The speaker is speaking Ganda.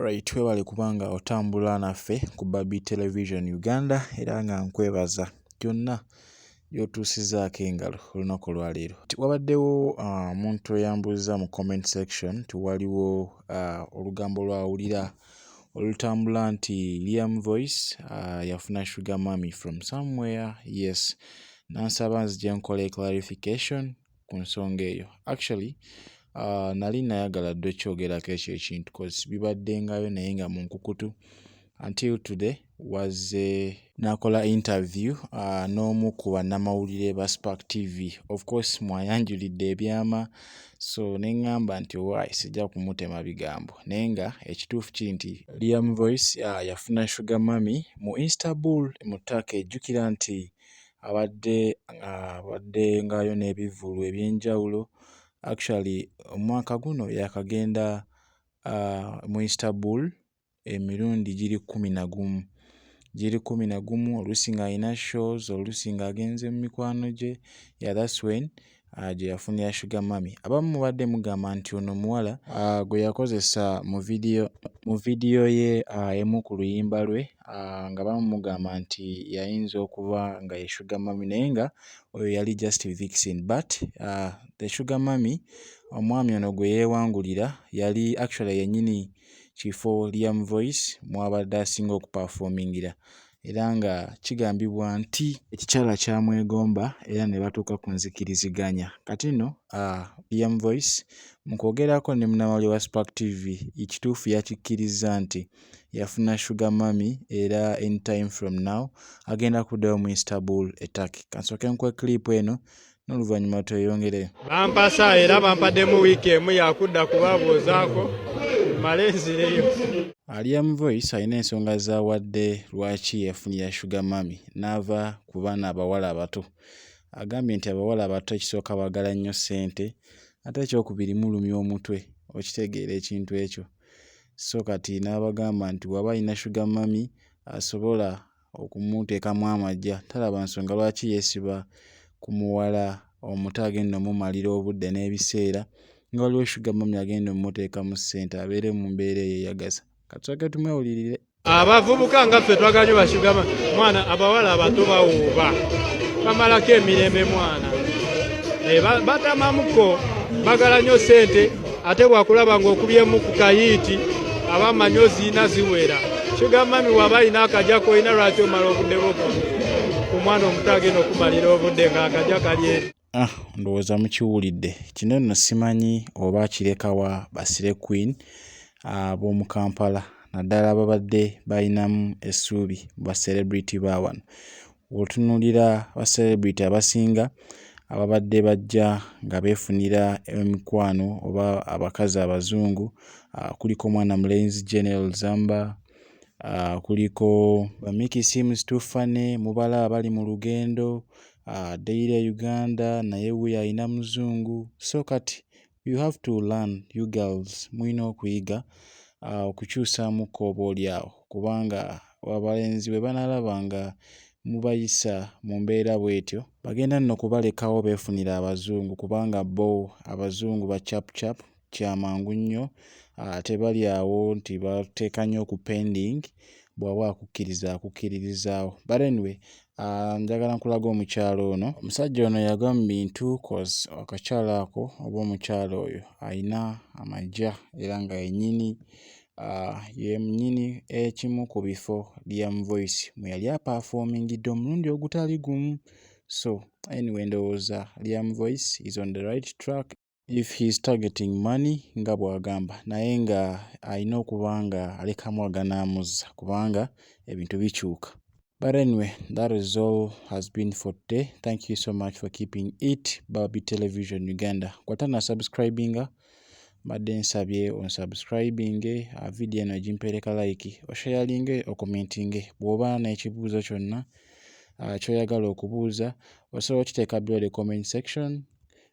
Alright, twebale kubanga otambula naffe ku Babi Television Uganda era nga nkwebaza gyonna gy'otuusizaako engalo olunaku olwaleero. Wabaddewo ah, omuntu uh, eyambuuza mu comment section ti waliwo uh, olugambo lwawulira olutambula nti Liam Voice uh, yafuna sugar mummy from somewhere yes nansaba nzija nkola clarification ku nsonga eyo actually uh, nali nayagala dde okyogerako ekyo ekintu bibaddengayo naye nga munkukutu until today wazze n'akola interview uh, n'omu ku bannamawulire ba spark tv of course mwayanjulidde ebyama so ne ŋŋamba nti owaayi sijja kumutema bigambo naye nga ekituufu kiri nti liam voice uh, yafuna shuga mami mu instabul mu taaka ejjukira nti abadde abadde uh, ngaayo n'ebivvulu eby'enjawulo actually omwaka guno yakagenda uh, mu instabul emirundi giri kkumi na gumu. Giri kkumi na gumu oluusi ng'alina shows, oluusi ng'agenze mu mikwano gye, yeah that's when ah, gye yafunira Sugar Mummy. Abamu mubadde mugamba nti ono omuwala ah, gwe yakozesa mu vidiyo mu vidiyo ye ah, emu ku luyimba lwe nga bamu mugamba nti yayinza okuba nga ye Sugar Mummy naye nga oyo yali just Vixen but the Sugar Mummy omwami ono gwe yeewangulira yali actually yennyini kifo Liam Voice mw'abadde asinga okupafoomingira era nga kigambibwa nti ekikyala kyamwegomba era ne batuuka ku nzikiriziganya. Kati nno Liam Voice mu kwogerako ne munnamawulire wa Spark TV ekituufu yakikkirizza nti yafuna Sugar Mummy era anytime from now agenda kuddayo mu Istanbul e Turkey. Ka nsooke nkuwe clip eno n'oluvannyuma tweyongere bampasa era bampaddemu wiiki emu yakudda kubabuuzaako male nzireyo aliam voice alina ensonga zawadde lwaki yafunira sugar mami n'ava ku baana abawala abato agambye nti abawala abato ekisooka bagala nnyo ssente ate ekyokubiri mulumya omutwe okitegeera ekintu ekyo so kati n'abagamba nti waba alina sugar mami asobola okumuteekamu amagya talaba nsonga lwaki yeesiba ku muwala omuto agenda omumalira obudde n'ebiseera nga waliwo shuga mami agenda omuteekamu ssente abeere mu mbeera eyeyagaza katusooke tumwewulirire abavubuka nga ffe twagala nyo bashugama mwana abawala abato bawuuba bamalako emirembe mwana eh, batamamuko bagala nyo sente ate wakulaba ng'okubyemu ku kayiiti aba manyi oziina ziwera kigamba mi waba alina akaja kolina lwaki omala obuddeko ku mwana omuto agenda okumalira obudde ng'akaja kalye ah, ndowooza mukiwulidde kino nno simanyi oba akirekawa basire queen ah, b'omu kampala naddala babadde balinamu essuubi ba celebrity ba wano Bw'otunuulira ba celebrity abasinga ababadde bajja nga beefunira emikwano oba abakazi abazungu kuliko mwana mulenzi Janel Zamba, kuliko Bamikisi Seems Too Funny, Mubala abali mu lugendo, Daily Uganda naye wuuyo alina muzungu so kati you have to learn you girls mulina okuyiga uh, okukyusaamukko oba olyawo kubanga abalenzi bwe banalaba nga mubayisa mu mbeera bw'etyo bagenda nno kubalekawo beefunira abazungu kubanga bo abazungu ba capcap kyamangu nnyo uh, tebali awo nti bateeka nnyo ku pending bwaba akukkiriza akukkiririzaawo but anyway Ah, njagala nkulaga omukyalo ono omusajja ono yagwa mu bintu cause akakyalo ako oba omukyalo oyo alina amagya era nga yenyini ah, yenyini ekimu ku bifo liam voice mwe yali apafoomingidde omulundi ogutali gumu so anyway ndowooza liam voice is on the right track if he's targeting money nga bwagamba naye nga alina okuba nga alekamu aganamuzza kubanga ebintu bikyuka but anyway that is all has been for today thank you so much for keeping it babi television uganda kwata na subscribinga mbadde nsabye onsubscribinge ah, vidiyo eno egimpeereka like oshayalinge okomentinge bw'oba n'ekibuuzo kyonna ah, kyoyagala okubuuza osobola okiteeka byoly comment section